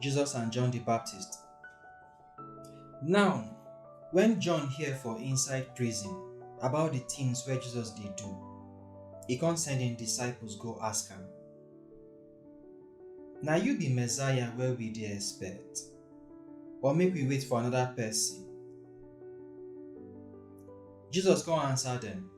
Jesus and John the Baptist. Now, when John hear for inside prison about the things where Jesus did do, he can't send in disciples go ask him. Now you be Messiah where we dey expect, or make we wait for another person. Jesus come answer them.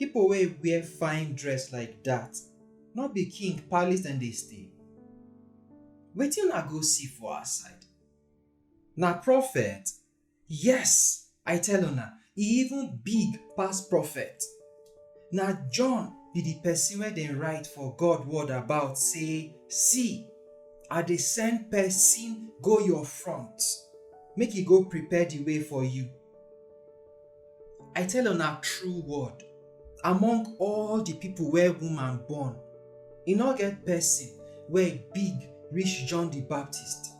Pipo wey wear fine dress like dat, no be king palace dem dey stay? Wetin una go see for outside? Na prophet? Yes, I tell una, e even big pass prophet. Na John be di pesin wey dem write for God word about sey, See! I dey send pesin go your front, make e go prepare di way for you. I tell una true word, among all the people where woman born, e no get person wey big reach John the Baptist.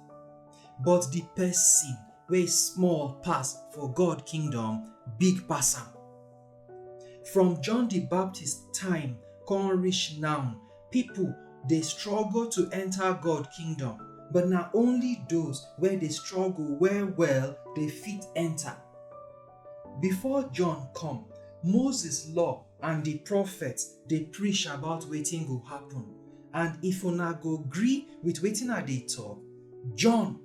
But the person wey small pass for God kingdom big pass am. From John the Baptist time come reach now, Pipo dey struggle to enta God Kingdom, but na only those wey dey struggle well-well dey fit enta. Before John come, Moses Law and di prophets dey preach about wetin go happun, and if una go gree wit wetin I dey tok, John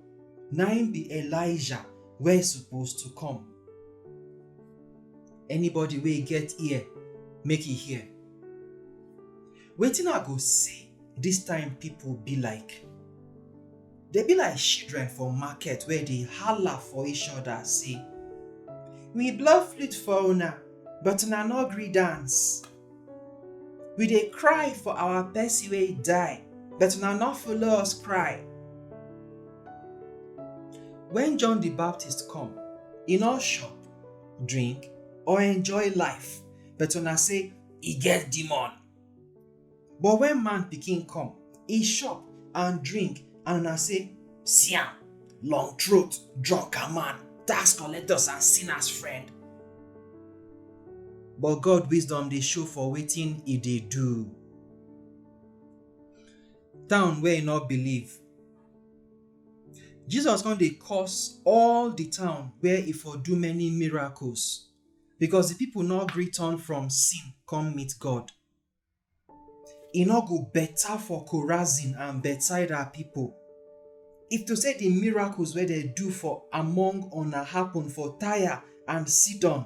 na im be Elijah wey suppose to come. Anybody wey get ear, make e hear. Wetin I go say? Dis time people be like, dem be like children for market wey dey hala for each other say, We blow flute for una, but una no gree dance. We dey cry for our person wey die, but una no follow us cry. When John the Baptist come, e no chop, drink, or enjoy life, but una say e get demon. But when man pikin come, e chop and drink, and una say, See am, long throat, drunken man, tax collectors and sinners friend. But God wisdom dey show for wetin e dey do. Town wey e no believe Jesus come dey curse all the town where he for do many miracles because the people no gree turn from sin come meet God. E no go better for Chorazin and Bethsaida people if to say the miracles wey dem do for among una happen for Tyre and Sidon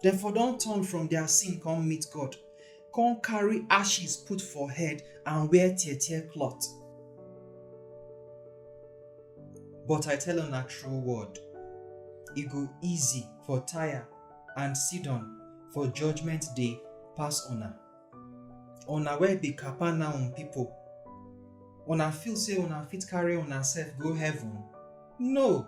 Dem for don turn from their sin come meet God, come carry ashes put for head and wear tear tear cloth. But I tell una true word, e go easy for Tyre and Sidon for judgment day pass una. Una wey be Capernaum people, una feel say una fit carry una sef go heaven? No!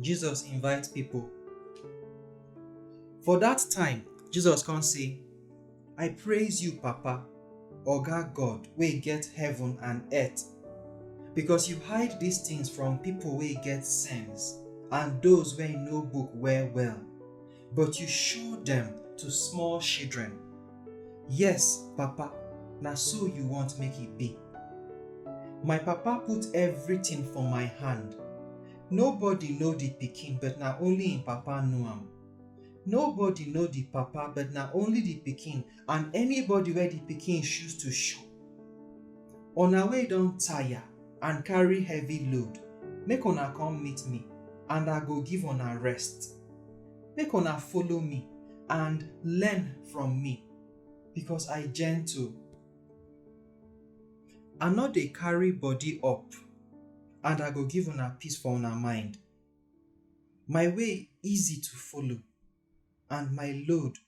Jesus invite pipo. For dat time, Jesus kon say, I praise you, Papa, Oga God wey get heaven and earth, because you hide dis tins from pipo wey get sense and doz wey know book well-well. but you show dem to small children. Yes, Papa, na so you want make e be. My papa put everything for my hand. Nobody know the pikin but na only him papa know am. Nobody know the papa but na only the pikin and anybody wey the pikin choose to show. Una wey don tire and carry heavy load, make una come meet me and I go give una rest. Make una follow me and learn from me, because I gentle. I no dey carry body up, and I go give una peace for una mind. My way easy to follow, and my load